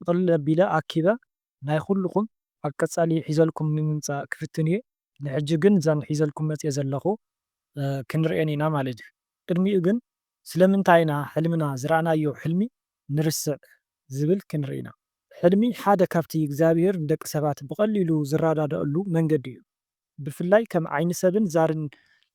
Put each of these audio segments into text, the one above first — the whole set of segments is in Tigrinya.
ጥቕልል ኣቢለ ኣኪበ ናይ ኩሉኹም ኣብ ቀጻሊ ሒዘልኩም ንምምጻእ ክፍትን እየ ንሕጂ ግን እዘን ሒዘልኩም መጽየ ዘለኹ ክንርእየን ኢና ማለት እዩ ቅድሚኡ ግን ስለምንታይ ኢና ሕልምና ዝረኣናዮ ሕልሚ ንርስዕ ዝብል ክንርኢ ኢና። ሕልሚ ሓደ ካብቲ እግዚኣብሄር ንደቂ ሰባት ብቐሊሉ ዝረዳደኣሉ መንገዲ እዩ። ብፍላይ ከም ዓይኒ ሰብን ዛርን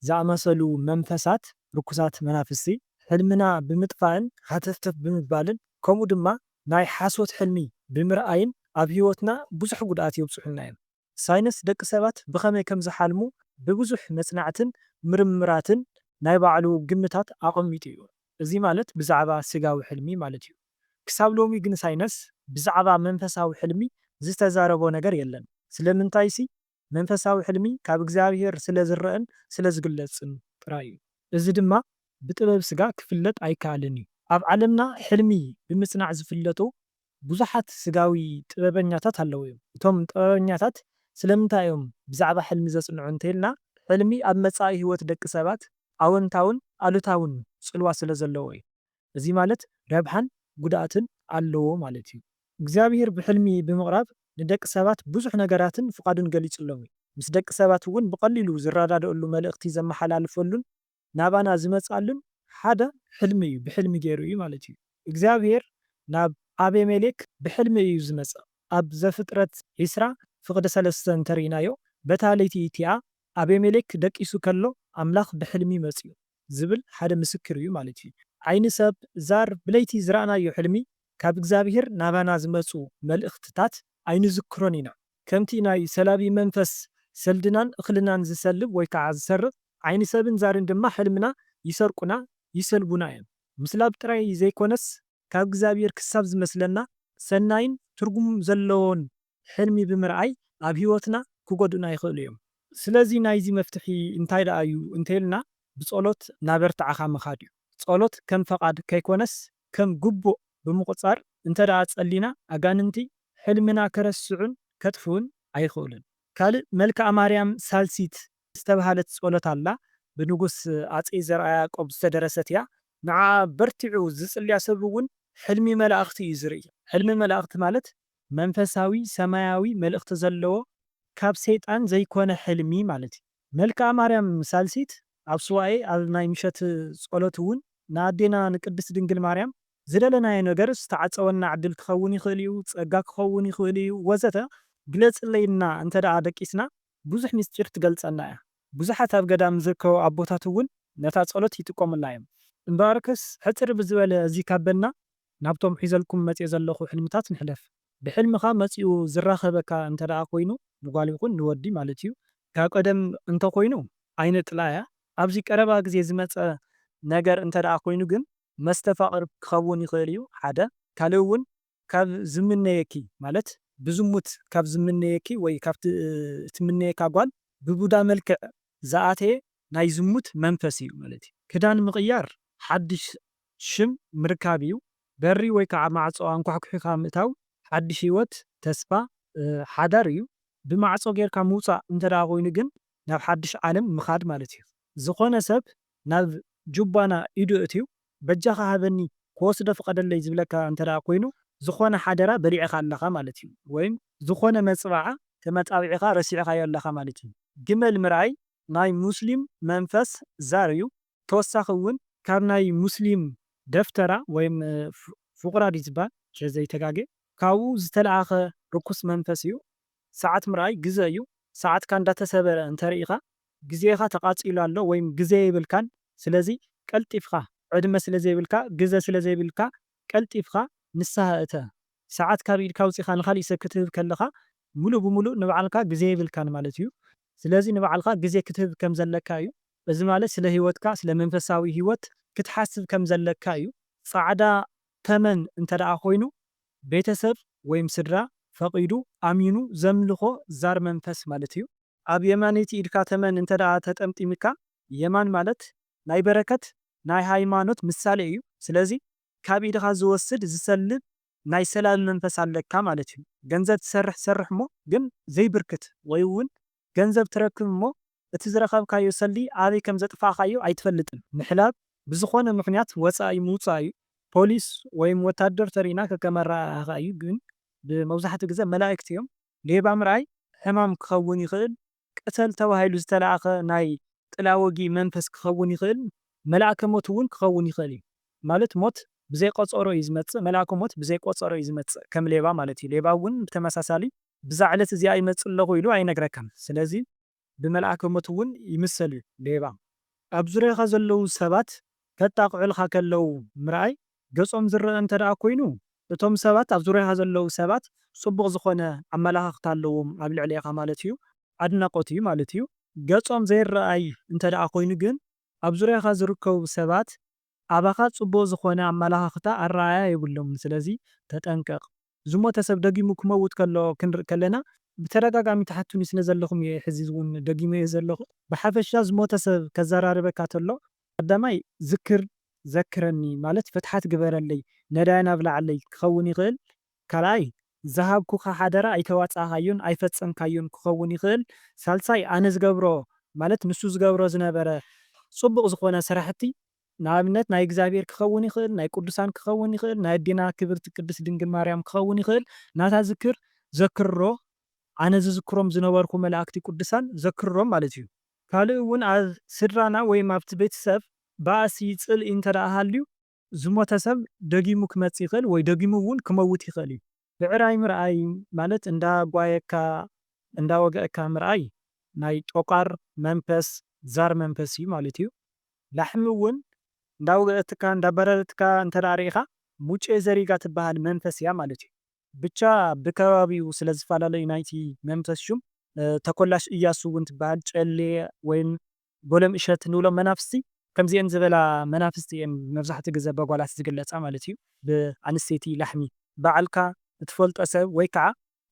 ዝኣመሰሉ መንፈሳት፣ ርኩሳት መናፍስቲ፣ ሕልምና ብምጥፋእን ሃተፍተፍ ብምባልን ከምኡ ድማ ናይ ሓሶት ሕልሚ ብምርኣይን ኣብ ህይወትና ብዙሕ ጉድኣት የብጽሑልና እዮም። ሳይንስ ደቂ ሰባት ብኸመይ ከም ዝሓልሙ ብብዙሕ መጽናዕትን ምርምራትን ናይ ባዕሉ ግምታት ኣቐሚጡ እዩ። እዚ ማለት ብዛዕባ ስጋዊ ሕልሚ ማለት እዩ። ክሳብ ሎሚ ግን ሳይነስ ብዛዕባ መንፈሳዊ ሕልሚ ዝተዛረቦ ነገር የለን። ስለምንታይሲ መንፈሳዊ ሕልሚ ካብ እግዚኣብሄር ስለ ዝረኣን ስለ ዝግለጽን ጥራይ እዩ። እዚ ድማ ብጥበብ ስጋ ክፍለጥ ኣይከኣልን እዩ። ኣብ ዓለምና ሕልሚ ብምጽናዕ ዝፍለጡ ብዙሓት ስጋዊ ጥበበኛታት ኣለዉ እዮም። እቶም ጥበበኛታት ስለምንታይ እዮም ብዛዕባ ሕልሚ ዘጽንዑ እንተ ኢልና፣ ሕልሚ ኣብ መጻኢ ህይወት ደቂ ሰባት ኣወንታውን ኣሉታውን ጽልዋ ስለ ዘለዎ እዩ። እዚ ማለት ረብሓን ጉድኣትን ኣለዎ ማለት እዩ። እግዚኣብሄር ብሕልሚ ብምቕራብ ንደቂ ሰባት ብዙሕ ነገራትን ፍቓዱን ገሊጽሎም እዩ። ምስ ደቂ ሰባት እውን ብቐሊሉ ዝረዳድእሉ መልእኽቲ ዘመሓላልፈሉን ናባና ዝመጽኣሉን ሓደ ሕልሚ እዩ ብሕልሚ ጌሩ እዩ ማለት እዩ እግዚኣብሄር ናብ ኣቤሜሌክ ብሕልሚ እዩ ዝመጽእ ኣብ ዘፍጥረት ዕስራ ፍቅዲ ሰለስተ እንተ ሪኢናዮ በታ ለይቲ እቲኣ ኣቤሜሌክ ደቂሱ ከሎ ኣምላኽ ብሕልሚ መጽኡ ዝብል ሓደ ምስክር እዩ ማለት እዩ ዓይኒ ሰብ ዛር ብለይቲ ዝረኣናዮ ሕልሚ ካብ እግዚኣብሄር ናባና ዝመጹ መልእኽትታት ኣይንዝክሮን ኢና ከምቲ ናይ ሰላቢ መንፈስ ሰልድናን እኽልናን ዝሰልብ ወይ ከዓ ዝሰርቕ፣ ዓይኒ ሰብን ዛርን ድማ ሕልምና ይሰርቁና፣ ይሰልቡና እዮም። ምስላብ ጥራይ ዘይኮነስ ካብ እግዚኣብሔር ክሳብ ዝመስለና ሰናይን ትርጉም ዘለዎን ሕልሚ ብምርኣይ ኣብ ሕይወትና ክጎድኡና ይኽእሉ እዮም። ስለዚ ናይዚ መፍትሒ እንታይ ደኣ እዩ እንተይልና ብጸሎት ናበርትዓኻ ምኻድ እዩ። ጸሎት ከም ፈቓድ ከይኮነስ ከም ግቡእ ብምቑጻር እንተድኣ ጸሊና ኣጋንንቲ ሕልምና ከረስዑን ከጥፍኡን ኣይኽእሉን። ካልእ መልክኣ ማርያም ሳልሲት ዝተብሃለት ጸሎት ኣላ፣ ብንጉስ ኣጼ ዘርኣ ያዕቆብ ዝተደረሰት እያ። ንዓኣ በርቲዑ ዝጽልያ ሰብ እውን ሕልሚ መላእኽቲ እዩ ዝርኢ። ሕልሚ መላእኽቲ ማለት መንፈሳዊ ሰማያዊ መልእኽቲ ዘለዎ ካብ ሰይጣን ዘይኮነ ሕልሚ ማለት እዩ። መልክኣ ማርያም ሳልሲት ኣብ ሱባኤ ኣብ ናይ ምሸት ጸሎት እውን ንኣዴና ንቅድስት ድንግል ማርያም ዝደለናዮ ነገር ዝተዓጸወልና ዕድል ክኸውን ይኽእል እዩ፣ ጸጋ ክኸውን ይኽእል እዩ ወዘተ ግለጽለይ ኢልና እንተ ደኣ ደቂስና ብዙሕ ምስጢር ትገልጸልና እያ። ብዙሓት ኣብ ገዳም ዝርከቡ ኣቦታት እውን ነታ ጸሎት ይጥቀሙላ እዮም። እምበኣርከስ ሕጽር ብዝበለ እዚ ካብ በልና ናብቶም ሒዘልኩም መጺኤ ዘለኹ ሕልምታት ንሕለፍ። ብሕልምኻ መጺኡ ዝራኸበካ እንተደኣ ኮይኑ ንጓል ይኹን ንወዲ ማለት እዩ፣ ካብ ቀደም እንተኾይኑ ኣይነጥላያ፣ ኣብዚ ቀረባ ግዜ ዝመጸ ነገር እንተደኣ ኮይኑ ግን መስተፋቕር ክኸውን ይኽእል እዩ ሓደ፣ ካልእ እውን ካብ ዝምነየኪ ማለት ብዝሙት ካብ ዝምነየኪ ወይ ካብቲ እትምነየካ ጓል ብቡዳ መልክዕ ዝኣተየ ናይ ዝሙት መንፈስ እዩ ማለት እዩ። ክዳን ምቕያር ሓድሽ ሽም ምርካብ እዩ። በሪ ወይ ከዓ ማዕፆ ኣንኳሕኲሕኻ ምእታው ሓዱሽ ህይወት፣ ተስፋ፣ ሓዳር እዩ። ብማዕፆ ገይርካ ምውፃእ እንተድኣ ኮይኑ ግን ናብ ሓዱሽ ዓለም ምኻድ ማለት እዩ። ዝኾነ ሰብ ናብ ጁባና ኢዱ ኣእትዩ በጃኻ ሃበኒ ክወስዶ ፍቐደለይ ዝብለካ እንተድኣ ኮይኑ ዝኾነ ሓደራ በሊዕኻ ኣለኻ ማለት እዩ። ወይም ዝኾነ መፅብዓ ተመፃቢዕኻ ረሲዕኻዮ ኣለኻ ማለት እዩ። ግመል ምርኣይ ናይ ሙስሊም መንፈስ ዛር እዩ። ተወሳኺ እውን ካብ ናይ ሙስሊም ደፍተራ ወይም ፉቅራ ድዩ ዝባል ተዘይተጋጌ ካብኡ ዝተልኣኸ ርኩስ መንፈስ እዩ ሰዓት ምርኣይ ግዘ እዩ ሰዓትካ እንዳተሰበረ እንተርኢኻ ግዜኻ ተቃፂሉ ኣሎ ወይም ግዘ የብልካን ስለዚ ቀልጢፍኻ ዕድመ ስለዘይብልካ ግዘ ስለዘይብልካ ቀልጢፍካ ንስሃ እተ። ሰዓት ካብ ኢድካ ኣውጺኻ ንኻሊእ ሰብ ክትህብ ከለኻ ምሉእ ብምሉእ ንባዕልካ ግዜ የብልካን ማለት እዩ። ስለዚ ንባዕልኻ ግዜ ክትህብ ከም ዘለካ እዩ። እዚ ማለት ስለ ህይወትካ ስለ መንፈሳዊ ህይወት ክትሓስብ ከም ዘለካ እዩ። ጻዕዳ ተመን እንተደኣ ኮይኑ ቤተሰብ ወይም ስድራ ፈቒዱ ኣሚኑ ዘምልኾ ዛር መንፈስ ማለት እዩ። ኣብ የማነይቲ ኢድካ ተመን እንተደኣ ተጠምጢምካ የማን ማለት ናይ በረከት ናይ ሃይማኖት ምሳሌ እዩ ስለዚ ካብ ኢድካ ዝወስድ ዝሰልብ ናይ ሰላቢ መንፈስ ኣለካ ማለት እዩ ገንዘብ ትሰርሕ ሰርሕ እሞ ግን ዘይብርክት ወይ እውን ገንዘብ ትረክብ እሞ እቲ ዝረከብካዮ ሰልዲ ኣበይ ከም ዘጥፋእካዮ ኣይትፈልጥን ምሕላብ ብዝኮነ ምክንያት ወፃኢ ምውፃእ እዩ ፖሊስ ወይም ወታደር ተሪእና ከከም ኣረኣእያካ እዩ ግን ብመብዛሕትኡ ግዘ መላእክት እዮም ሌባ ምርኣይ ሕማም ክከውን ይክእል ቅተል ተባሂሉ ዝተላእከ ናይ ጥላወጊ መንፈስ ክኸውን ይኽእል፣ መልኣከ ሞት እውን ክኸውን ይኽእል እዩ። ማለት ሞት ብዘይ ቐጸሮ እዩ ዝመጽእ፣ መልኣከ ሞት ብዘይ ቆጸሮ እዩ ዝመጽእ ከም ሌባ ማለት እዩ። ሌባ እውን ብተመሳሳሊ ብዛ ዕለት እዚኣ ይመጽእ ኣለኹ ኢሉ ኣይነግረካን ስለዚ ብመልኣከ ሞት እውን ይምሰል እዩ ሌባ። ኣብ ዙርያኻ ዘለዉ ሰባት ከጣቕዑልኻ ከለዉ ምርኣይ ገጾም ዝረኣ እንተደኣ ኮይኑ እቶም ሰባት ኣብ ዙርያኻ ዘለዉ ሰባት ጽቡቕ ዝኾነ ኣመላኻኽታ ኣለዎም ኣብ ልዕሌኻ ማለት እዩ ኣድናቖት እዩ ማለት እዩ። ገጾም ዘይረኣይ እንተደኣ ኮይኑ ግን ኣብ ዙርያኻ ዝርከቡ ሰባት ኣባኻ ጽቡቕ ዝኾነ ኣመላኻኽታ ኣረኣእያ የብሎምን ስለዚ ተጠንቀቕ። ዝሞተ ሰብ ደጊሙ ክመውት ከሎ ክንርኢ ከለና ብተደጋጋሚ ትሓቱኒ ስለ ዘለኹም እየ ሕዚ ውን ደጊመዮ ዘለኹ። ብሓፈሻ ዝሞተ ሰብ ከዘራርበካ ተሎ ቀዳማይ ዝክር ዘክረኒ ማለት ፍትሓት ግበረለይ ነዳያን ኣብልዓለይ ክኸውን ይኽእል ካልኣይ ዝሃብኩኻ ሓደራ ኣይተዋጻእኻዮን ኣይፈጸምካዮን ክኸውን ይኽእል ሳልሳይ ኣነ ዝገብሮ ማለት ንሱ ዝገብሮ ዝነበረ ጽቡቕ ዝኾነ ስራሕቲ ንኣብነት ናይ እግዚኣብሔር ክኸውን ይኽእል፣ ናይ ቅዱሳን ክኸውን ይኽእል፣ ናይ ኣዴና ክብርቲ ቅድስት ድንግል ማርያም ክኸውን ይኽእል፣ ናታ ዝክር ዘክርሮ ኣነ ዝዝክሮም ዝነበርኩ መላእክቲ ቅዱሳን ዘክርሮም ማለት እዩ። ካልእ እውን ኣብ ስድራና ወይም ኣብቲ ቤተሰብ ባእሲ፣ ጽልኢ፣ እንተደኣ ሃልዩ፣ ዝሞተ ሰብ ደጊሙ ክመጽእ ይኽእል ወይ ደጊሙ እውን ክመውት ይኽእል እዩ። ብዕራይ ምርኣይ ማለት እንዳ ጓየካ እንዳ ወገእካ ምርኣይ ናይ ጦቛር መንፈስ ዛር መንፈስ እዩ ማለት እዩ ላሕሚ እውን እንዳ ወገእትካ እንዳ ኣባረረትካ እንተድኣ ርኢኻ ሙጬ ዘሪጋ ትብሃል መንፈስ እያ ማለት እዩ። ብቻ ብከባቢኡ ስለ ዝፈላለ እዩ ናይቲ መንፈስ ሹም። ተኮላሽ እያሱ እውን ትብሃል ጨሌ ወይም ጎሎም እሸት ንብሎም መናፍስቲ ከምዚኤን ዝበላ መናፍስቲ እየን መብዛሕትኡ ግዘ በጓላት ዝግለፃ ማለት እዩ ብኣንስተይቲ ላሕሚ ባዕልካ እትፈልጦ ሰብ ወይ ከዓ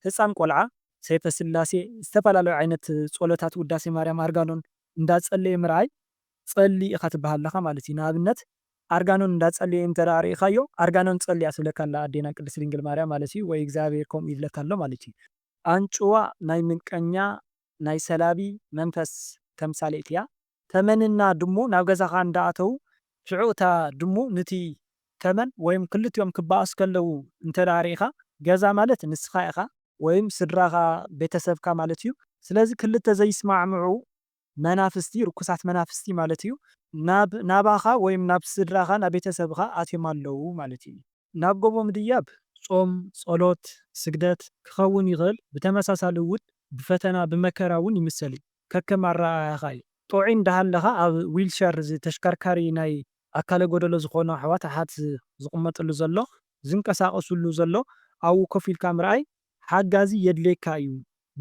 ህፃን ቆልዓ ሰይፈ ስላሴ ዝተፈላለዩ ዓይነት ፆሎታት ውዳሴ ማርያም ኣርጋኖን እንዳፀለየ ምርኣይ ፀሊ ኢካ ትበሃል ኣለካ ማለት እዩ ንኣብነት ኣርጋኖን እንዳፀለየ እንተ ሪኢካዮ ኣርጋኖን ፀሊኣ ትብለካ ኣላ ኣዴና ቅድስት ድንግል ማርያም ማለት እዩ ወይ እግዚኣብሔር ከምኡ ይብለካ ኣሎ ማለት እዩ። ኣንጭዋ ናይ ምንቀኛ ናይ ሰላቢ መንፈስ ተምሳሌት እያ። ተመን እና ድሙ ናብ ገዛኻ እንዳ ኣተዉ ሽዑ እታ ድሙ ንቲ ተመን ወይም ክልቲኦም ክባኣሱ ከለዉ እንተ ሪኢኻ ገዛ ማለት ንስኻ ኢኻ ወይም ስድራኻ ቤተሰብካ ማለት እዩ ስለዚ ክልተ ዘይስማዕምዑ መናፍስቲ ርኩሳት መናፍስቲ ማለት እዩ ናብ ናባኻ ወይም ናብ ስድራኻ ናብ ቤተሰብኻ ኣትዮም ኣለዉ ማለት እዩ። ናብ ጎቦ ምድያብ ጾም፣ ጸሎት፣ ስግደት፣ ክኸውን ይኽእል፣ ብተመሳሳሊ እውን ብፈተና ብመከራ እውን ይምሰል እዩ፣ ከከም ኣረኣእያኻ እዩ። ጥዑይ እንዳሃለኻ ኣብ ዊልቸር እዚ ተሽከርካሪ ናይ ኣካለ ጎደሎ ዝኾኑ ኣሕዋት ኣሓት ዝቕመጥሉ ዘሎ ዝንቀሳቐስሉ ዘሎ ኣብኡ ኮፍ ኢልካ ምርኣይ ሓጋዚ የድልየካ እዩ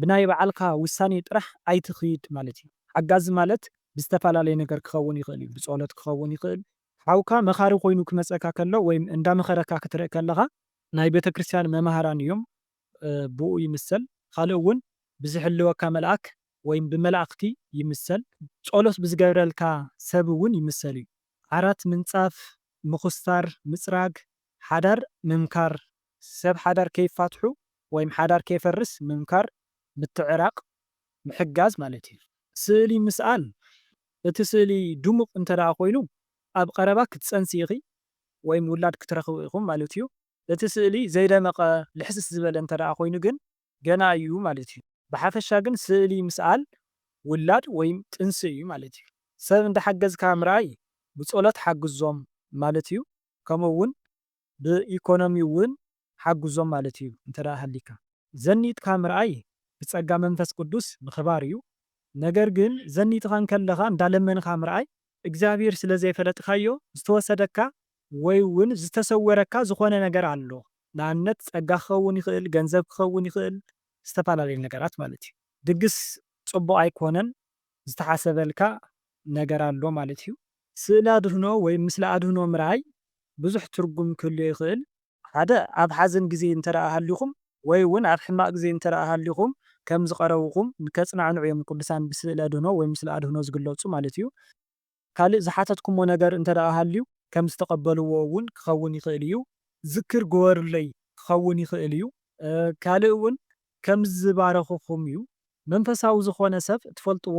ብናይ ባዓልካ ውሳኔ ጥራሕ ኣይትኺድ ማለት እዩ ሓጋዚ ማለት ብዝተፈላለየ ነገር ክኸውን ይኽእል እዩ ብጸሎት ክኸውን ይኽእል ሓውካ መኻሪ ኮይኑ ክመጸካ ከሎ ወይም እንዳመኸረካ ክትርእ ከለኻ ናይ ቤተክርስትያን መማህራን እዮም ብኡ ይምሰል ኻልእ እውን ብዝሕልወካ መልኣክ ወይም ብመላእክቲ ይምሰል ጾሎት ብዝገብረልካ ሰብ እውን ይምሰል እዩ ዓራት ምንጻፍ ምኹስታር ምጽራግ ሓዳር ምምካር ሰብ ሓዳር ከይፋትሑ ወይም ሓዳር ከይፈርስ ምምካር ምትዕራቅ ምሕጋዝ ማለት እዩ። ስእሊ ምስኣል እቲ ስእሊ ድሙቕ እንተድኣ ኮይኑ ኣብ ቐረባ ክትጸንሲ ኢኺ ወይም ውላድ ክትረኽቢ ኢኹም ማለት እዩ። እቲ ስእሊ ዘይደመቐ ልሕስስ ዝበለ እንተድኣ ኮይኑ ግን ገና እዩ ማለት እዩ። ብሓፈሻ ግን ስእሊ ምስኣል ውላድ ወይም ጥንሲ እዩ ማለት እዩ። ሰብ እንዳሓገዝካ ምርኣይ ብጸሎት ሓግዞም ማለት እዩ ከምኡ እውን ብኢኮኖሚ እውን ሓግዞም ማለት እዩ እንተ ሃሊካ። ዘኒጥካ ምርኣይ ብጸጋ መንፈስ ቅዱስ ምኽባር እዩ ነገር ግን ዘኒጥኻ እንከለኻ እንዳለመንኻ ምርኣይ እግዚኣብሄር ስለ ዘይፈለጥካዮ ዝተወሰደካ ወይ እውን ዝተሰወረካ ዝኾነ ነገር ኣሎ ንኣብነት ጸጋ ክኸውን ይኽእል ገንዘብ ክኸውን ይኽእል ዝተፈላለየ ነገራት ማለት እዩ ድግስ ጽቡቕ ኣይኮነን ዝተሓሰበልካ ነገር ኣሎ ማለት እዩ። ስእሊ ኣድህኖ ወይ ምስሊ ኣድህኖ ምርኣይ ብዙሕ ትርጉም ክህልዮ ይኽእል። ሓደ፣ ኣብ ሓዘን ግዜ እንተደኣ ሃሊኹም ወይ እውን ኣብ ሕማቕ ግዜ እንተደኣ ሃሊኹም ከም ዝቐረቡኹም ንከጽናዕንዑ እዮም ቅዱሳን ብስእሊ ኣድህኖ ወይ ምስሊ ኣድህኖ ዝግለጹ ማለት እዩ። ካልእ ዝሓተትኩሞ ነገር እንተደኣ ሃልዩ ከም ዝተቐበልዎ እውን ክኸውን ይኽእል እዩ። ዝክር ግበሩለይ ክኸውን ይኽእል እዩ። ካልእ እውን ከም ዝባረኽኹም እዩ። መንፈሳዊ ዝኾነ ሰብ እትፈልጥዎ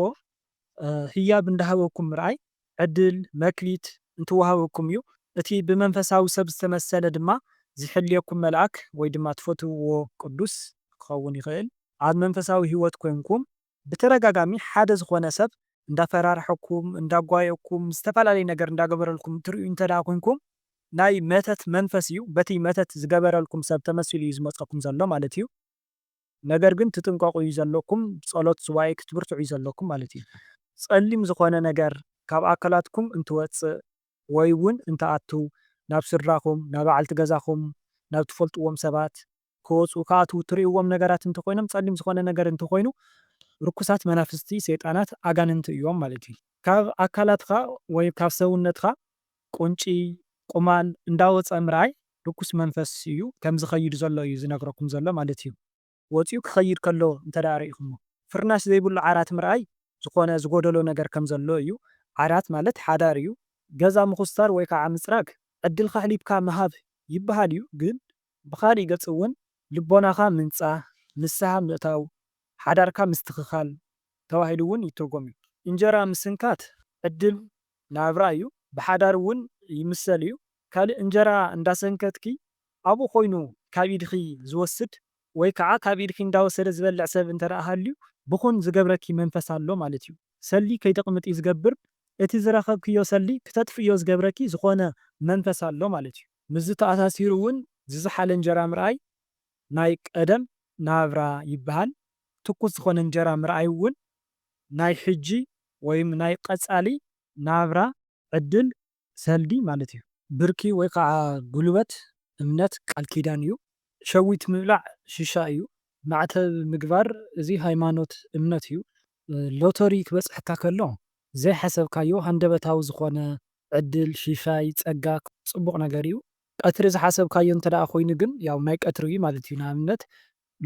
ህያብ እንዳሃበኩም ምርኣይ፣ ዕድል፣ መክሊት፣ እንትወሃበኩም እዩ። እቲ ብመንፈሳዊ ሰብ ዝተመሰለ ድማ ዝሕልየኩም መልኣክ ወይ ድማ ትፈትውዎ ቅዱስ ክኸውን ይኽእል። ኣብ መንፈሳዊ ህይወት ኮይንኩም ብተደጋጋሚ ሓደ ዝኾነ ሰብ እንዳፈራርሐኩም፣ እንዳጓየየኩም፣ ዝተፈላለየ ነገር እንዳገበረልኩም ትርእዩ እንተድኣ ኮንኩም ናይ መተት መንፈስ እዩ። በቲ መተት ዝገበረልኩም ሰብ ተመሲሉ እዩ ዝመጸኩም ዘሎ ማለት እዩ። ነገር ግን ትጥንቀቑ እዩ ዘለኩም። ጸሎት ሱባኤ ክትብርትዑ እዩ ዘለኩም ማለት እዩ። ጸሊም ዝኾነ ነገር ካብ ኣካላትኩም እንትወጽእ፣ ወይ ውን እንትኣትው ናብ ስድራኹም፣ ናባዕልቲ ገዛኹም፣ ናብ ትፈልጥዎም ሰባት። ክወጹ ክኣትው ትርእይዎም ነገራት እንተኾይኖም ጸሊም ዝኾነ ነገር እንተኾይኑ ርኩሳት መናፍስቲ፣ ሰይጣናት፣ ኣጋንንቲ እዮም ማለት እዩ። ካብ ኣካላትኻ ወይ ካብ ሰውነትኻ ቁንጪ፣ ቁማል፣ እንዳወጸ ምርኣይ ርኩስ መንፈስ እዩ ከምዝኸይድ ዘሎ እዩ ዝነግረኩም ዘሎ ማለት እዩ። ወጺኡ ክኸይድ ከሎ እንተድኣ ርኢኹሞ፣ ፍርናሽ ዘይብሉ ዓራት ምርኣይ ዝኾነ ዝጎደሎ ነገር ከም ዘሎ እዩ። ዓራት ማለት ሓዳር እዩ። ገዛ ምኹስታር ወይ ከኣ ምጽራግ ዕድልካ ኣሕሊፍካ ምሃብ ይብሃል እዩ። ግን ብኻሊእ ገጽ እውን ልቦናኻ ምንጻህ፣ ንስሃ ምእታው፣ ሓዳርካ ምስትኽኻል ተባሂሉ እውን ይትርጎም እዩ። እንጀራ ምስንካት ዕድል ናብራ እዩ። ብሓዳር እውን ይምሰል እዩ። ካልእ እንጀራ እንዳሰንከትኪ ኣብኡ ኮይኑ ካብ ኢድኺ ዝወስድ ወይ ከዓ ካብ ኢድኪ እንዳወሰደ ዝበልዕ ሰብ እንተደኣ ሃልዩ ብኹን ዝገብረኪ መንፈስ ኣሎ ማለት እዩ። ሰሊ ከይተቅምጢ ዝገብር እቲ ዝረኸብክዮ ሰሊ ክተጥፍእዮ ዝገብረኪ ዝኾነ መንፈስ ኣሎ ማለት እዩ። ምስዚ ተኣሳሲሩ እውን ዝዘሓለ እንጀራ ምርኣይ ናይ ቀደም ናብራ ይበሃል። ትኩስ ዝኾነ እንጀራ ምርኣይ እውን ናይ ሕጂ ወይም ናይ ቀፃሊ ናብራ ዕድል ሰልዲ ማለት እዩ። ብርኪ ወይ ከዓ ጉልበት እምነት ቃል ኪዳን እዩ። ሸዊት ምብላዕ ሽሻ እዩ። ማዕተብ ምግባር እዚ ሃይማኖት እምነት እዩ። ሎቶሪ ክበፅሐካ ከሎ ዘይሓሰብካዮ ሃንደበታዊ ዝኾነ ዕድል፣ ሽሻይ፣ ፀጋ፣ ፅቡቕ ነገር እዩ። ቀትሪ ዝሓሰብካዮ እንተ ኮይኑ ግን ያው ናይ ቀትሪ እዩ ማለት እዩ። ንኣብነት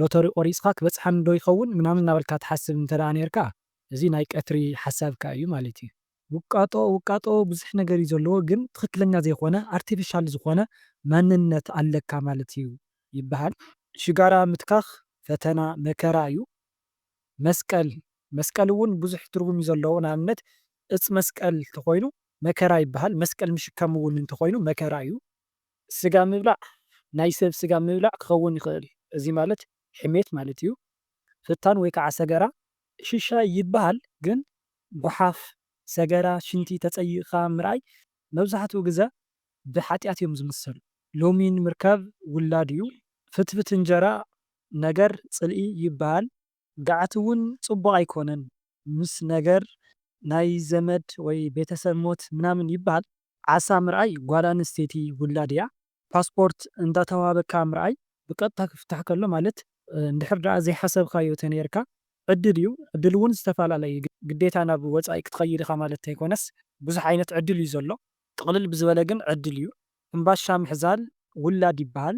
ሎቶሪ ቆሪፅካ ክበፅሓኒ ዶ ይኸውን ምናምን እናበልካ ትሓስብ እንተ ኔርካ እዚ ናይ ቀትሪ ሓሳብካ እዩ ማለት እዩ። ውቃጦ ውቃጦ ብዙሕ ነገር እዩ ዘለዎ ግን ትኽክለኛ ዘይኾነ ኣርቴፊሻል ዝኾነ ማንነት ኣለካ ማለት እዩ ይበሃል። ሽጋራ ምትካኽ ፈተና መከራ እዩ። መስቀል መስቀል እውን ብዙሕ ትርጉም እዩ ዘለዎ ንኣብነት እፅ መስቀል እንተኾይኑ መከራ ይበሃል መስቀል ምሽካም እውን እንተኾይኑ መከራ እዩ። ስጋ ምብላዕ ናይ ሰብ ስጋ ምብላዕ ክኸውን ይኽእል እዚ ማለት ሕሜት ማለት እዩ። ፍታን ወይ ከዓ ሰገራ ሽሻ ይበሃል ግን ጉሓፍ፣ ሰገራ፣ ሽንቲ ተጸይቕካ ምርኣይ መብዛሕትኡ ግዘ ብሓጥያት እዮም ዝምሰሉ። ሎሚ ንምርካብ ውላድ እዩ። ፍትፍት እንጀራ ነገር ጽልኢ ይበሃል። ገዓት እውን ጽቡቕ ኣይኮነን ምስ ነገር ናይ ዘመድ ወይ ቤተሰብ ሞት ምናምን ይበሃል። ዓሳ ምርኣይ ጓል ኣንስተይቲ ውላድ እያ ፓስፖርት እንዳተዋሃበካ ምርኣይ ብቀጥታ ክፍታሕ ከሎ ማለት እንድሕር ደኣ ዘይሓሰብካዮ ተነይርካ ዕድል እዩ ዕድል ውን ዝተፋላለየ እዩ ግዴታ ናብ ወጻኢ ክትኸይድ ኢኻ ማለት ተይኮነስ ብዙሕ ዓይነት ዕድል እዩ ዘሎ ጥቅልል ብዝበለ ግን ዕድል እዩ ሕምባሻ ምሕዛል ውላድ ይበሃል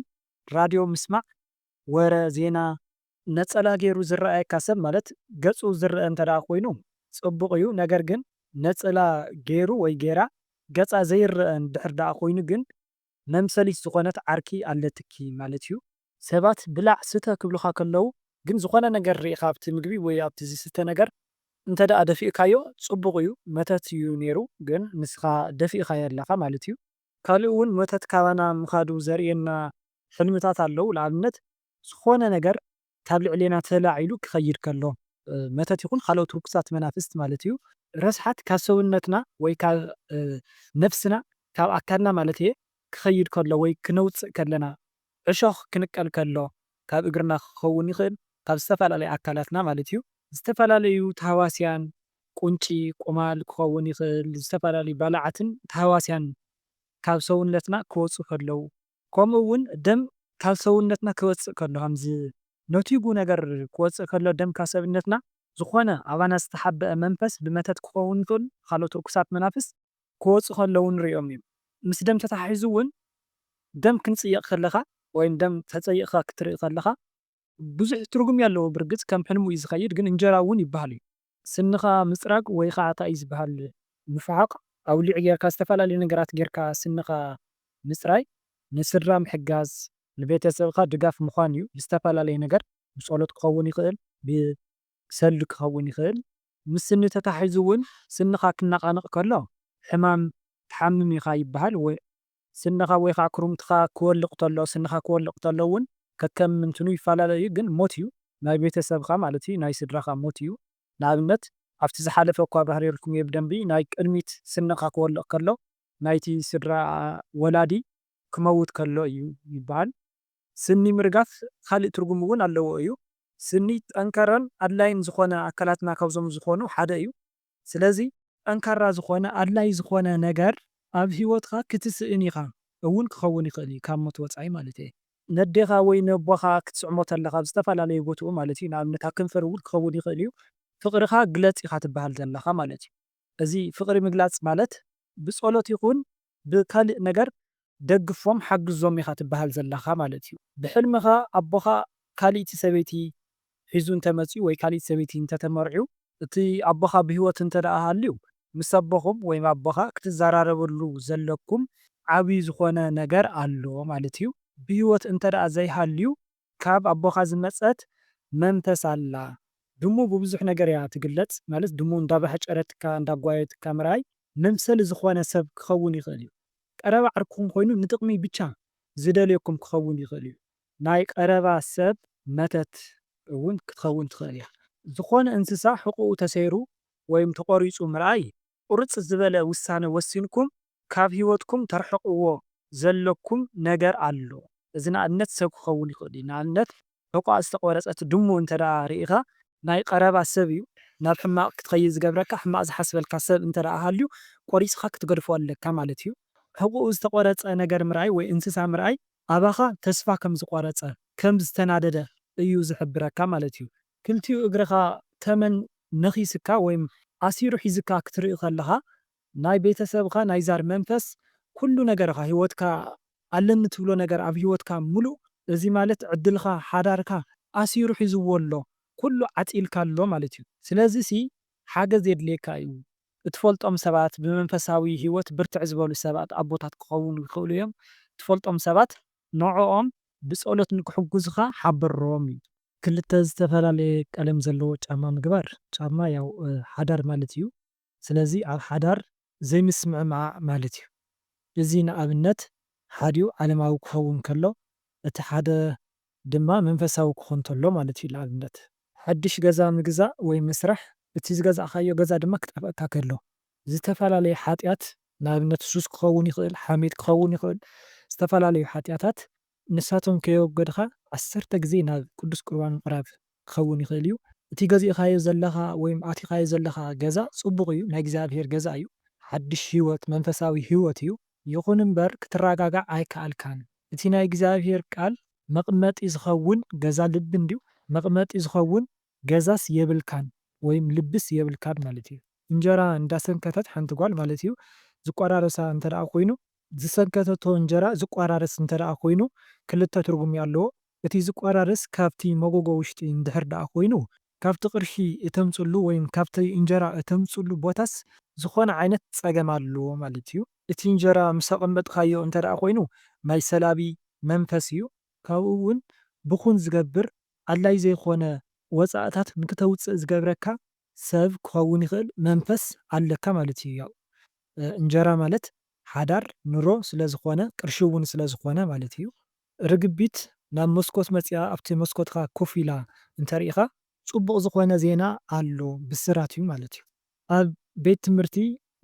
ራድዮ ምስማዕ ወረ ዜና ነጸላ ጌሩ ዝረኣየካ ሰብ ማለት ገጹ ዝረኣ እንተደኣ ኮይኑ ጽቡቅ እዩ ነገር ግን ነጽላ ጌሩ ወይ ጌራ ገጻ ዘይረኣ እንድሕር ደኣ ኮይኑ ግን መምሰሊት ዝኮነት ዓርኪ ኣለትኪ ማለት እዩ። ሰባት ብላዕ ስተ ክብሉካ ከለዉ ግን ዝኮነ ነገር ሪኢካ ኣብቲ ምግቢ ወይ ኣብቲ ዝስተ ነገር እንተደኣ ደፊእካዮ ጽቡቅ እዩ መተት እዩ ኔሩ ግን ንስካ ደፊእካዮ ኣለካ ማለት እዩ። ካልእ ውን መተት ካባና ምካዱ ዘርእየና ሕልምታት ኣለዉ ንኣብነት ዝኾነ ነገር ካብ ልዕሌና ተላዒሉ ክኸይድ ከሎ፣ መተት ይኹን ኻልኦት ርኩሳት መናፍስት ማለት እዩ፣ ረስሓት ካብ ሰውነትና ወይ ካብ ነፍስና፣ ካብ ኣካልና ማለት እየ፣ ክኸይድ ከሎ ወይ ክነውጽእ ከለና፣ ዕሾኽ ክንቀል ከሎ፣ ካብ እግርና ክኸውን ይኽእል፣ ካብ ዝተፈላለየ ኣካላትና ማለት እዩ፣ ዝተፈላለዩ ታህዋስያን፣ ቁንጪ፣ ቁማል ክኸውን ይኽእል፣ ዝተፈላለዩ ባልዓትን ታህዋስያን ካብ ሰውነትና ክወጹ ከለው፣ ከምኡ እውን ደም ካብ ሰውነትና ክወጽእ ከሎ ከምዚ ነቲጉ ነገር ክወጽእ ከሎ ደም ካብ ሰብነትና ዝኾነ ኣባና ዝተሓበኣ መንፈስ ብመተት ክኸውን ይኽእል ብኻልኦት ርኩሳት መናፍስት ክወጹ ከለዉ ንሪኦም እዩ ምስ ደም ተተሓሒዙ እውን ደም ክንጽየቕ ከለኻ ወይም ደም ተጸይቕካ ክትርኢ ከለኻ ብዙሕ ትርጉም የለዎ ብርግጽ ከም ሕልሙ እዩ ዝከይድ ግን እንጀራ ውን ይብሃል እዩ። ስንኻ ምጽራግ ወይ ኻዓ ታይ እዩ ዝብሃል ምፍሓቕ ኣውሊዕ ጌርካ ዝተፈላለዩ ነገራት ጌርካ ስንኻ ምጽራይ ንስድራ ምሕጋዝ ንቤተሰብኻ ድጋፍ ምዃን እዩ ብዝተፈላለየ ነገር ብጸሎት ክኸውን ይኽእል ብሰልዲ ክኸውን ይኽእል። ምስ ስኒ ተታሒዙ ውን ስንኻ ክነቓነቕ ከሎ ሕማም ትሓምም ኢኻ ይብሃል ወይ ስንኻ ወይ ኻዓ ኩርምትኻ ክወልቅ ተሎ ስንኻ ክወልቅ ተሎ እውን ከከም እንትኑ ይፋላለ እዩ ግን ሞት እዩ ናይ ቤተሰብኻ ማለት እዩ ናይ ስድራኻ ሞት እዩ ንኣብነት ኣብቲ ዝሓለፈ እኳ ኣብራህሬልኩም እየ ብደንቢ ናይ ቅድሚት ስንኻ ክወልቅ ከሎ ናይቲ ስድራ ወላዲ ክመውት ከሎ እዩ ይባሃል። ስኒ ምርጋፍ ኻሊእ ትርጉም እውን ኣለዎ እዩ ስኒ ጠንከረን ኣድላይን ዝኾነ ኣካላትና ካብዞም ዝኾኑ ሓደ እዩ ስለዚ ጠንካራ ዝኾነ ኣድላይ ዝኾነ ነገር ኣብ ሂወትኻ ክትስእን ኢኻ እውን ክኸውን ይኽእል እዩ ካብ ሞት ወጻኢ ማለት እየ። ነዴኻ ወይ ነቦኻ ክትስዕሞ ተለኻ ኣብ ዝተፈላለዩ ቦትኡ ማለት እዩ ንኣብነት ኣብ ከንፈር እውን ክኸውን ይኽእል እዩ ፍቕርኻ ግለጽ ኢኻ ትበሃል ዘለኻ ማለት እዩ። እዚ ፍቕሪ ምግላጽ ማለት ብጸሎት ይኹን ብካልእ ነገር ደግፎም ሓግዞም ኢኻ ትበሃል ዘለኻ ማለት እዩ። ብሕልምኻ ኣቦኻ ካልእቲ ሰበይቲ ሒዙ እንተመጽዩ ወይ ካልእቲ ሰበይቲ እንተተመርዕዩ፣ እቲ ኣቦኻ ብህይወት እንተደኣ ሃልዩ ምስ ኣቦኹም ወይ ኣቦኻ ክትዘራረበሉ ዘለኩም ዓቢ ዝኾነ ነገር ኣሎ ማለት እዩ። ብህይወት እንተደኣ ዘይሃልዩ ካብ ኣቦኻ ዝመጸት መንፈስ ኣላ። ድሙ ብብዙሕ ነገር እያ ትግለጽ ማለት ድሙ እንዳባህጨረትካ እንዳጓየትካ ምርኣይ መምሰሊ ዝኾነ ሰብ ክኸውን ይኽእል እዩ። ቀረባ ዓርክኹም ኮይኑ ንጥቕሚ ብቻ ዝደልየኩም ክኸውን ይኽእል እዩ። ናይ ቀረባ ሰብ መተት እውን ክትኸውን ትኽእል እያ። ዝኾነ እንስሳ ሕቖኡ ተሰይሩ ወይም ተቖሪጹ ምርኣይ ቁርጽ ዝበለ ውሳነ ወሲንኩም ካብ ህይወትኩም ተርሕቕዎ ዘለኩም ነገር ኣሎ። እዚ ንኣብነት ሰብ ክኸውን ይኽእል እዩ። ንኣብነት ሕቖኣ ዝተቖረጸት ድሙ እንተድኣ ርኢኻ፣ ናይ ቐረባ ሰብ እዩ፣ ናብ ሕማቕ ክትኸይድ ዝገብረካ፣ ሕማቕ ዝሓስበልካ ሰብ እንተድኣ ሃልዩ ቆሪጽኻ ክትገድፎ ኣለካ ማለት እዩ። ሕቖኡ ዝተቖረጸ ነገር ምርኣይ ወይ እንስሳ ምርኣይ ኣባኻ ተስፋ ከም ዝቖረጸ፣ ከም ዝተናደደ እዩ ዝሕብረካ ማለት እዩ። ክልቲኡ እግርኻ ተመን ነኺስካ ወይም ኣሲሩ ሒዝካ ክትርኢ ከለኻ ናይ ቤተሰብኻ ናይ ዛር መንፈስ ኩሉ ነገርኻ ሂወትካ ኣለኒ ትብሎ ነገር ኣብ ሂወትካ ሙሉእ እዚ ማለት ዕድልኻ ሓዳርካ ኣሲሩ ሒዝዎ ኣሎ ኩሉ ዓጺልካ ኣሎ ማለት እዩ ስለዚ ሲ ሓገዝ የድልየካ እዩ እትፈልጦም ሰባት ብመንፈሳዊ ሂወት ብርትዕ ዝበሉ ሰባት ኣቦታት ክኸዉኑ ይኽእሉ እዮም ትፈልጦም ሰባት ንዕኦም ብጸሎት ንክሕጉዙኻ ሓብሮም ኢሉ። ክልተ ዝተፈላለየ ቀለም ዘለዎ ጫማ ምግባር፣ ጫማ ያው ሓዳር ማለት እዩ። ስለዚ ኣብ ሓዳር ዘይምስምዕማዕ ማለት እዩ። እዚ ንኣብነት ሓዲኡ ዓለማዊ ክኸውን ከሎ እቲ ሓደ ድማ መንፈሳዊ ክኾን ተሎ ማለት እዩ። ንኣብነት። ሓድሽ ገዛ ምግዛእ ወይ ምስራሕ፣ እቲ ዝገዛእካዮ ገዛ ድማ ክጠፍኣካ ከሎ፣ ዝተፈላለየ ሓጢኣት ንኣብነት ሱስ ክኸውን ይኽእል፣ ሓሜት ክኸውን ይኽእል፣ ዝተፈላለዩ ሓጢኣታት ንሳቶም ከየወገድኻ ዓሰርተ ግዜ ናብ ቅዱስ ቁርባን ምቕራብ ክኸውን ይኽእል እዩ። እቲ ገዚእኻዮ ዘለኻ ወይም ኣቲኻዮ ዘለኻ ገዛ ጽቡቕ እዩ፣ ናይ እግዚኣብሔር ገዛ እዩ፣ ሓድሽ ሕይወት፣ መንፈሳዊ ሕይወት እዩ፣ ይኹን እምበር ክትራጋጋዕ ኣይከኣልካን፣ እቲ ናይ እግዚኣብሔር ቃል መቕመጢ ዝኸውን ገዛ ልቢ እንድዩ፣ መቕመጢ ዝኸውን ገዛስ የብልካን ወይም ልብስ የብልካን ማለት እዩ። እንጀራ እንዳሰንከተት ሓንቲ ጓል ማለት እዩ ዝቋራረሳ እንተደኣ ኮይኑ። ዝሰንከተቶ እንጀራ ዝቋራረስ እንተደኣ ኮይኑ ክልተ ትርጉም እዩ ኣለዎ። እቲ ዝቋራረስ ካብቲ መጎጎ ውሽጢ እንድሕር ደኣ ኮይኑ ካብቲ ቅርሺ እተምጽሉ ወይም ካብቲ እንጀራ እተምጽሉ ቦታስ ዝኾነ ዓይነት ጸገም ኣሎ ማለት እዩ። እቲ እንጀራ ምስ ኣቐመጥካዮ እንተደኣ ኮይኑ ናይ ሰላቢ መንፈስ እዩ። ካብኡ እውን ብኹን ዝገብር ኣድላዪ ዘይኮነ ወጻእታት ንክተውጽእ ዝገብረካ ሰብ ክኸውን ይኽእል መንፈስ ኣለካ ማለት እዩ ያኡ እንጀራ ማለት ሓዳር ኑሮ ስለ ዝኾነ ቅርሺ ውን ስለ ዝኾነ ማለት እዩ። ርግቢት ናብ መስኮት መጺኣ ኣብቲ መስኮትካ ኮፍ ኢላ እንተርኢኻ። ጽቡቕ ዝኾነ ዜና ኣሎ ብስራት እዩ ማለት እዩ። ኣብ ቤት ትምህርቲ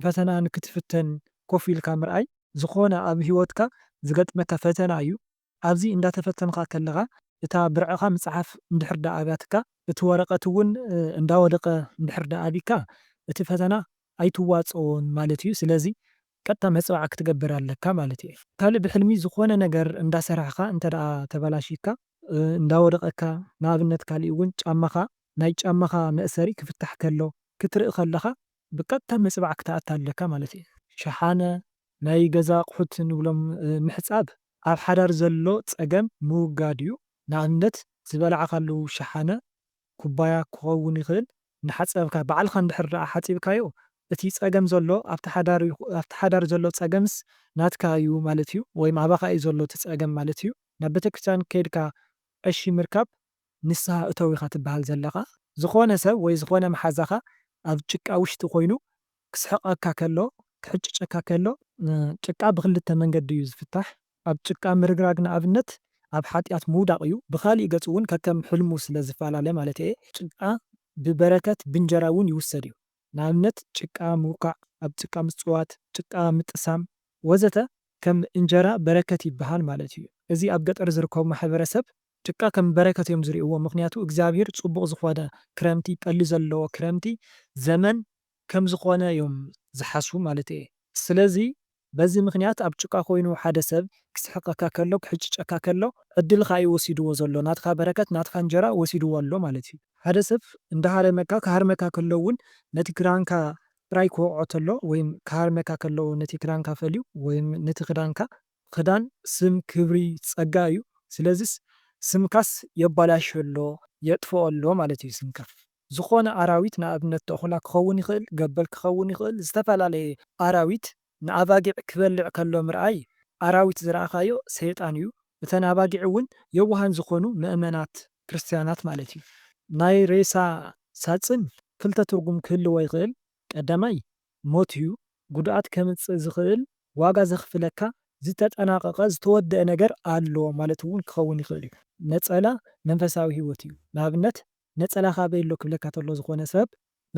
ፈተና ንክትፍተን ኮፍ ኢልካ ምርኣይ። ዝኾነ ኣብ ሂወትካ ዝገጥመካ ፈተና እዩ ኣብዚ እንዳተፈተንኻ ከለኻ እታ ብርዕኻ ምጽሓፍ እንድሕር ደኣ ኣብያትካ እቲ ወረቐት እውን እንዳወደቐ እንድሕር ደኣ ኣቢካ እቲ ፈተና ኣይትዋጸዎን ማለት እዩ ስለዚ ቀጥታ መጽባዕ ክትገብር ኣለካ ማለት እዩ። ካልእ ብሕልሚ ዝኾነ ነገር እንዳሰራሕኻ እንተደኣ ተበላሺካ እንዳወደቐካ ንኣብነት ካልእ እውን ጫማኻ ናይ ጫማኻ መእሰሪ ክፍታሕ ከሎ ክትርኢ ከለኻ ብቀጥታ ምጽባዕ ክትኣቲ ኣለካ ማለት እዩ። ሸሓነ፣ ናይ ገዛ ኣቑሑት ንብሎም ምሕጻብ ኣብ ሓዳር ዘሎ ጸገም ምውጋድ እዩ። ንኣብነት ዝበላዕካሉ ሸሓነ፣ ኩባያ፣ ክኸውን ይኽእል እናሓጸብካ ባዕልኻ እንድሕር ደኣ ሓጺብካዮ እቲ ጸገም ዘሎ ኣብቲ ሓዳር ኣብቲ ሓዳር ዘሎ ጸገምስ ናትካ እዩ ማለት እዩ ወይም ኣባኻ እዩ ዘሎ እቲ ጸገም ማለት እዩ። ናብ ቤተክርስትያን ከይድካ ቀሺ ምርካብ ንስሃ እተው ኢኻ ትበሃል ዘለኻ። ዝኾነ ሰብ ወይ ዝኾነ መሓዛኻ ኣብ ጭቃ ውሽጢ ኮይኑ ክስሕቐካ ከሎ፣ ክሕጭጨካ ከሎ፣ ጭቃ ብኽልተ መንገዲ እዩ ዝፍታሕ፣ ኣብ ጭቃ ምርግራግ ንኣብነት ኣብ ሓጢኣት ምውዳቕ እዩ፣ ብኻሊእ ገፁ እውን ከከም ሕልሙ ስለ ዝፈላለ ማለተይ እየ። ጭቃ ብበረከት ብእንጀራ እውን ይውሰድ እዩ፣ ንኣብነት ጭቃ ምውካዕ፣ ኣብ ጭቃ ምፅዋት፣ ጭቃ ምጥሳም ወዘተ ከም እንጀራ በረከት ይበሃል ማለት እዩ። እዚ ኣብ ገጠር ዝርከቡ ማሕበረሰብ ጭቃ ከም በረከት እዮም ዝሪእዎ ምክንያቱ እግዚኣብሔር ፅቡቅ ዝኮነ ክረምቲ ጠሊ ዘለዎ ክረምቲ ዘመን ከም ዝኮነ እዮም ዝሓስቡ ማለት እየ ስለዚ በዚ ምክንያት ኣብ ጭቃ ኮይኑ ሓደ ሰብ ክስሕቀካ ከሎ ክሕጭጨካ ከሎ ዕድልካ እዩ ወሲድዎ ዘሎ ናትካ በረከት ናትካ እንጀራ ወሲድዎ ኣሎ ማለት እዩ። ሓደ ሰብ እንዳሃረመካ ክሃርመካ ከሎ እውን ነቲ ክዳንካ ጥራይ ክወቅዖ ተሎ ወይም ክሃርመካ ከሎ ነቲ ክዳንካ ፈልዩ ወይም ነቲ ክዳንካ ኽዳን ስም ክብሪ ጸጋ እዩ ስለዝስ ስምካስ የባላሽዮ ኣሎ የጥፍኦ ኣሎ ማለት እዩ ስምካ ዝኾነ ኣራዊት ንኣብነት ተኹላ ክኸውን ይኽእል ገበል ክኸውን ይኽእል ዝተፈላለየ ኣራዊት ንኣባጊዕ ክበልዕ ከሎ ምርኣይ ኣራዊት ዝረኣኻዮ ሰይጣን እዩ እተን ኣባጊዕ እውን የዋሃን ዝኾኑ መእመናት ክርስትያናት ማለት እዩ ናይ ሬሳ ሳጽን ክልተ ትርጉም ክህልዎ ይኽእል ቀዳማይ ሞት'ዩ፣ ጉድኣት ከምጽእ ዝኽእል፣ ዋጋ ዘኽፍለካ፣ ዝተጠናቐቐ፣ ዝተወደኣ ነገር ኣሎ ማለት'ውን ክኸውን ይኽእል'ዩ። ነጸላ መንፈሳዊ ህይወት'ዩ፣ ንኣብነት ነጸላ ካበይ ኣሎ ክብለካ ተሎ ዝኾነ ሰብ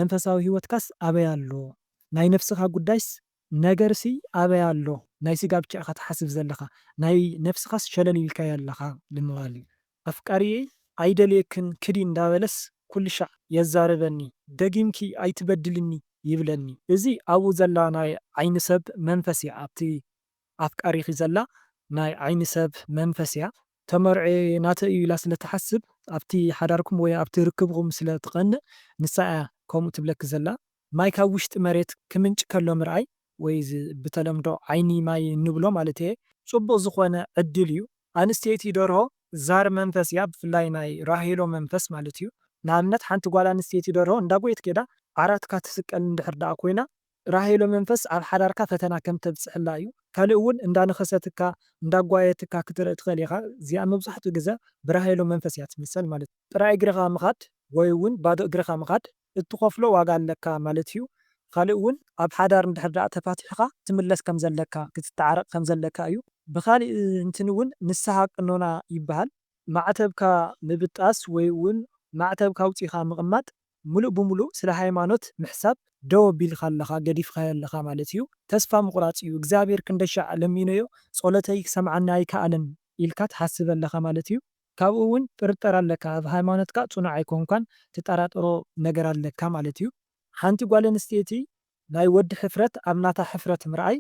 መንፈሳዊ ህይወትካስ ኣበይ ኣሎ፣ ናይ ነፍስኻ ጉዳይስ ነገርሲ ኣበይ ኣሎ፣ ናይ ስጋ ብቻ ኢኻ ትሓስብ ዘለኻ፣ ናይ ነፍስኻስ ሸለል ኢልካያ ኣለኻ ንምባል'ዩ። ኣፍቃሪየይ ኣይደልየክን ክዲ እንዳበለስ ኩልሻዕ የዛርበኒ ደጊምኪ ኣይትበድልኒ ይብለኒ እዚ ኣብኡ ዘላ ናይ ዓይኒ ሰብ መንፈስ እያ ኣብቲ ኣፍቃሪኪ ዘላ ናይ ዓይኒ ሰብ መንፈስ እያ ተመርዕየ ናተይ እዩ ኢላ ስለ ትሓስብ ኣብቲ ሓዳርኩም ወይ ኣብቲ ርክብኩም ስለ ትቀንእ ንሳ እያ ከምኡ ትብለኪ ዘላ ማይ ካብ ውሽጢ መሬት ክምንጭ ከሎ ምርኣይ ወይ እዚ ብተለምዶ ዓይኒ ማይ እንብሎ ማለተይ'የ። ጽቡቕ ዝኾነ ዕድል እዩ። ኣንስተይቲ ደርሆ ዛር መንፈስ እያ ብፍላይ ናይ ራሄሎ መንፈስ ማለት እዩ። ንኣብነት ሓንቲ ጓል ኣንስተይቲ ደርሆ እንዳጎየት ከይዳ ዓራትካ ትስቀል እንድሕር ደኣ ኮይና ራሄሎ መንፈስ ኣብ ሓዳርካ ፈተና ከም ተብጽሕላ እዩ። ካልእ እውን እንዳነኸሰትካ እንዳጓየትካ ክትርኢ ትኽእል ኢኻ እዚኣ መብዛሕትኡ ግዘ ብራሄሎ መንፈስ እያ ትምሰል ማለት እዩ። ጥራይ እግርኻ ምኻድ ወይ እውን ባዶ እግርኻ ምኻድ እትኸፍሎ ዋጋ ኣለካ ማለት'ዩ፣ ኻልእ ውን ኣብ ሓዳር እንድሕር ደኣ ተፋቲሕኻ ትምለስ ከም ዘለካ፣ ክትተዓረቕ ከም ዘለካ እዩ። ብኻሊእ እንትን ውን ንስሃ ቅኖና ይበሃል። ማዕተብካ ምብጣስ ወይ ውን ማዕተብካ ኣውጺእኻ ምቕማጥ ምሉእ ብምሉእ ስለ ሃይማኖት ምሕሳብ ደው ኣቢልካ ኣለኻ፣ ገዲፍኻዮ ኣለኻ ማለት እዩ። ተስፋ ምቑራጽ እዩ፣ እግዚኣብሄር ክንደሻዕ ለሚነዮ ጸሎተይ ክሰምዓኒ ኣይከኣለን ኢልካ ትሓስብ ኣለኻ ማለት እዩ። ካብኡ ውን ጥርጠራ ኣለካ ኣብ ሃይማኖትካ ጽኑዕ ኣይኮንካን ትጣራጠሮ ነገር ኣለካ ማለት እዩ። ሓንቲ ጓል ኣንስተይቲ ናይ ወዲ ሕፍረት ኣብ ናታ ሕፍረት ምርኣይ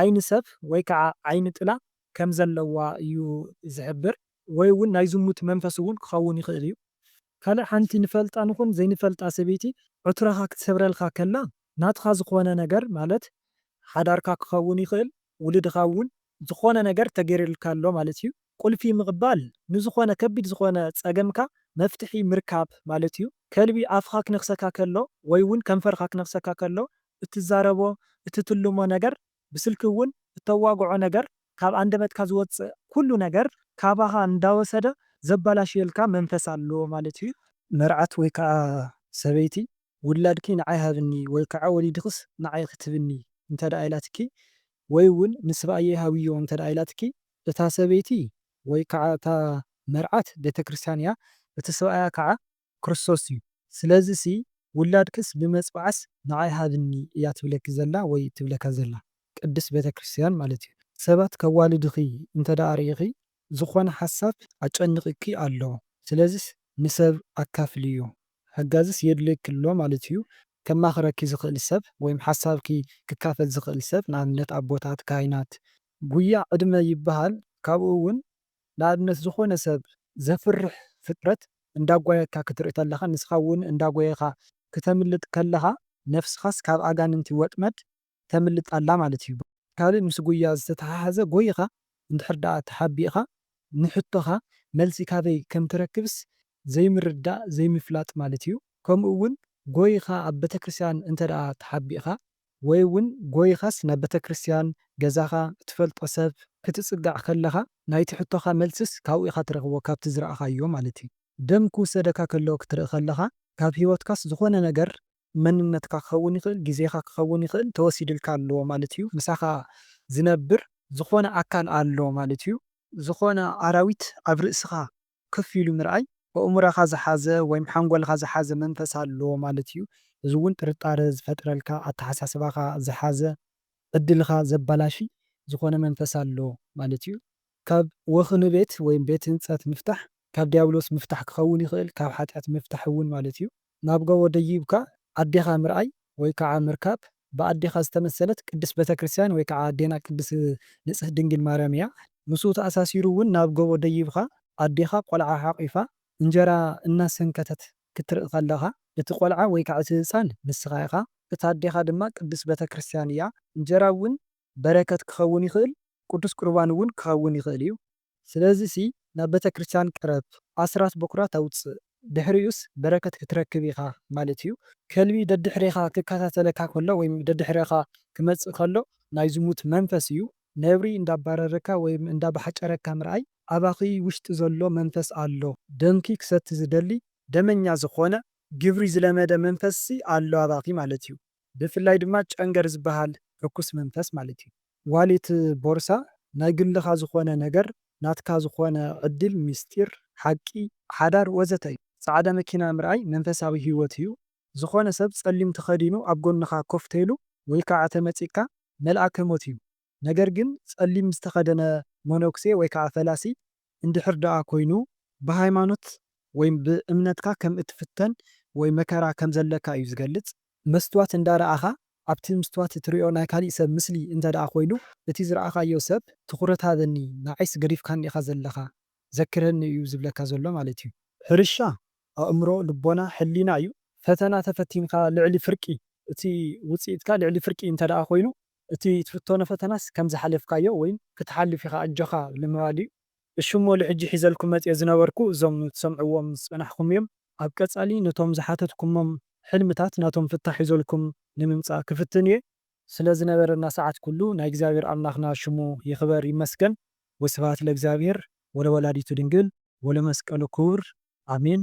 ዓይኒ ሰብ ወይ ከኣ ዓይኒ ጥላ ከም ዘለዋ እዩ ዝሕብር። ወይ ውን ናይ ዝሙት መንፈስ ውን ክኸውን ይኽእል እዩ። ካልእ ሓንቲ ንፈልጣ ንኹን ዘይንፈልጣ ሰበይቲ ዕትሮኻ ክትሰብረልካ ከላ ናትኻ ዝኾነ ነገር ማለት ሓዳርካ ክኸውን ይኽእል ውሉድኻ እውን ዝኾነ ነገር ተገይርልካ ኣሎ ማለት እዩ። ቁልፊ ምቕባል ንዝኾነ ከቢድ ዝኾነ ጸገምካ መፍትሒ ምርካብ ማለት እዩ። ከልቢ ኣፍኻ ክነኽሰካ ከሎ ወይ እውን ከንፈርኻ ክነኽሰካ ከሎ እትዛረቦ እትትልሞ ነገር ብስልኪ እውን እተዋግዖ ነገር ካብ ኣንደበትካ ዝወጽእ ኩሉ ነገር ካባኻ እንዳወሰደ ዘባላሽየልካ መንፈስ ኣሎ ማለት እዩ። መርዓት ወይ ከኣ ሰበይቲ ውላድኪ ንዓይ ሃብኒ ወይ ከኣ ወሊድክስ ንዓይ ክትብኒ እንተደኣ ኢላትኪ ወይ እውን ንስብኣየይ ሃብዮ እንተደኣ ኢላትኪ እታ ሰበይቲ ወይ ከኣ እታ መርዓት ቤተክርስትያን እያ እቲ ስብኣያ ከኣ ክርስቶስ እዩ ስለዚ ሲ ውላድክስ ብመጽብዓስ ንዓይ ሃብኒ እያ ትብለኪ ዘላ ወይ ትብለካ ዘላ ቅድስት ቤተክርስትያን ማለት እዩ ሰባት ከዋልድኺ እንተ ርኢኺ ዝኾነ ሓሳብ ኣጨንቂኪ ኣሎ ስለዚስ ንሰብ ኣካፍልዮ ሓጋዚስ የድልየኪ ኣሎ ማለት እዩ ከማኽረኪ ዝኽእል ሰብ ወይም ሓሳብኪ ክካፈል ዝኽእል ሰብ ንኣብነት ኣቦታት ካህናት ጉያ ዕድመ ይብሃል ካብኡ ውን ንኣብነት ዝኾነ ሰብ ዘፍርሕ ፍጥረት እንዳጓየካ ክትርኢ ተለኻ ንስኻ ውን እንዳጎየኻ ክተምልጥ ከለኻ ነፍስኻስ ካብ ኣጋንንቲ ወጥመድ ተምልጥ ኣላ ማለት እዩ። ካልእ ምስ ጉያ ዝተተሓሓዘ ጎይኻ እንድሕር ደኣ ተሓቢእኻ ንሕቶኻ መልሲ ካበይ ከም ትረክብስ ዘይምርዳእ ዘይምፍላጥ ማለት እዩ። ከምኡ ውን ጎይኻ ኣብ ቤተክርስትያን እንተደኣ ተሓቢእኻ ወይ ውን ጎይኻስ ናብ ቤተክርስትያን፣ ገዛኻ፣ እትፈልጦ ሰብ ክትጽጋዕ ከለኻ ናይቲ ሕቶኻ መልስስ ካብኡ ኢኻ ትረኽቦ ካብቲ ዝረኣኻዮ ማለት እዩ። ደም ክውሰደካ ከሎ ክትርኢ ከለኻ ካብ ሂወትካስ ዝኾነ ነገር መንነትካ ክኸውን ይኽእል ግዜኻ ክኸውን ይኽእል ተወሲድልካ ኣሎ ማለት እዩ ምሳኻ ዝነብር ዝኾነ ኣካል ኣሎ ማለት እዩ። ዝኾነ ኣራዊት ኣብ ርእስኻ ክፍ ኢሉ ምርኣይ ኣእምሮኻ ዝሓዘ ወይም ሓንጎልኻ ዝሓዘ መንፈስ ኣሎ ማለት እዩ። እዚ እውን ጥርጣረ ዝፈጥረልካ፣ ኣተሓሳስባኻ ዝሓዘ፣ ዕድልኻ ዘበላሺ ዝኾነ መንፈስ ኣሎ ማለት እዩ። ካብ ወኽኒ ቤት ወይም ቤት ህንፀት ምፍታሕ ካብ ዲያብሎስ ምፍታሕ ክኸውን ይኽእል፣ ካብ ሓጢኣት ምፍታሕ እውን ማለት እዩ። ናብ ጎቦ ደይብካ ኣዴኻ ምርኣይ ወይ ከዓ ምርካብ ብኣዴኻ ዝተመሰለት ቅድስት ቤተክርስትያን ወይ ከዓ ኣዴና ቅድስት ንጽህት ድንግል ማርያም እያ። ምስኡ ተኣሳሲሩ እውን ናብ ጎቦ ደይብኻ ኣዴኻ ቆልዓ ሓቒፋ እንጀራ እናሰንከተት ክትርኢ ከለኻ እቲ ቆልዓ ወይ ከዓ እቲ ህጻን ንስኻ ኢኻ እታ ኣዴኻ ድማ ቅድስት ቤተክርስትያን እያ። እንጀራ እውን በረከት ክኸውን ይኽእል ቅዱስ ቁርባን እውን ክኸውን ይኽእል እዩ። ስለዚሲ ናብ ቤተክርስትያን ቅረብ፣ ኣስራት በኵራት ኣውጽእ፣ ድሕሪኡስ በረከት ክትረክብ ኢኻ ማለት እዩ። ከልቢ ደድሕሬኻ ክከታተለካ ከሎ ወይም ደድሕሬኻ ክመጽእ ከሎ ናይ ዝሙት መንፈስ እዩ። ነብሪ እንዳባረረካ ወይም እንዳባሕጨረካ ምርኣይ ኣባኺ ውሽጢ ዘሎ መንፈስ ኣሎ። ደምኪ ክሰቲ ዝደሊ ደመኛ ዝኾነ ግብሪ ዝለመደ መንፈስሲ ኣሎ ኣባኺ ማለት እዩ። ብፍላይ ድማ ጨንገር ዝበሃል ርኩስ መንፈስ ማለት እዩ። ዋሊት፣ ቦርሳ፣ ናይ ግልኻ ዝኾነ ነገር፣ ናትካ ዝኾነ ዕድል፣ ሚስጢር፣ ሓቂ፣ ሓዳር ወዘተ እዩ። ጻዕዳ መኪና ምርኣይ መንፈሳዊ ህይወት እዩ። ዝኾነ ሰብ ጸሊም ተኸዲኑ ኣብ ጎንኻ ኮፍ ተይሉ ወይ ካዓ ተመጺእካ መልኣከ ሞት እዩ። ነገር ግን ጸሊም ዝተኸደነ መነኩሴ ወይ ካዓ ፈላሲ እንድሕር ደኣ ኮይኑ ብሃይማኖት ወይ ብእምነትካ ከም እትፍተን ወይ መከራ ከም ዘለካ እዩ ዝገልጽ። መስትዋት እንዳ ረኣኻ ኣብቲ ምስትዋት እትሪኦ ናይ ካሊእ ሰብ ምስሊ እንተ ደኣ ኮይኑ እቲ ዝረኣኻዮ ሰብ ትኹረት ሃበኒ ንዓይስ ገዲፍካኒ ኢኻ ዘለኻ ዘክረኒ እዩ ዝብለካ ዘሎ ማለት እዩ። ሕርሻ ኣእምሮ፣ ልቦና፣ ሕሊና እዩ። ፈተና ተፈቲንካ ልዕሊ ፍርቂ እቲ ውጽኢትካ ልዕሊ ፍርቂ እንተ ደኣ ኮይኑ እቲ ትፍተኖ ፈተናስ ከም ዝሓለፍካዮ ወይ ክትሓልፍ ኢኻ ኣጆኻ ንምባል እዩ። እሺ እሞ ልሕጂ ሒዘልኩም መጽየ ዝነበርኩ እዞም ትሰምዕዎም ዝጸናሕኹም እዮም። ኣብ ቀጻሊ ነቶም ዝሓተትኩሞም ሕልምታት ናቶም ፍታሕ ሒዘልኩም ንምምጻእ ክፍትን እየ። ስለ ዝነበረና ሰዓት ኩሉ ናይ እግዚኣብሔር ኣምላክና ሽሙ ይክበር ይመስገን ወስብሃት ለእግዚኣብሔር ወለወላዲቱ ድንግል ወለመስቀሉ ክቡር ኣሜን።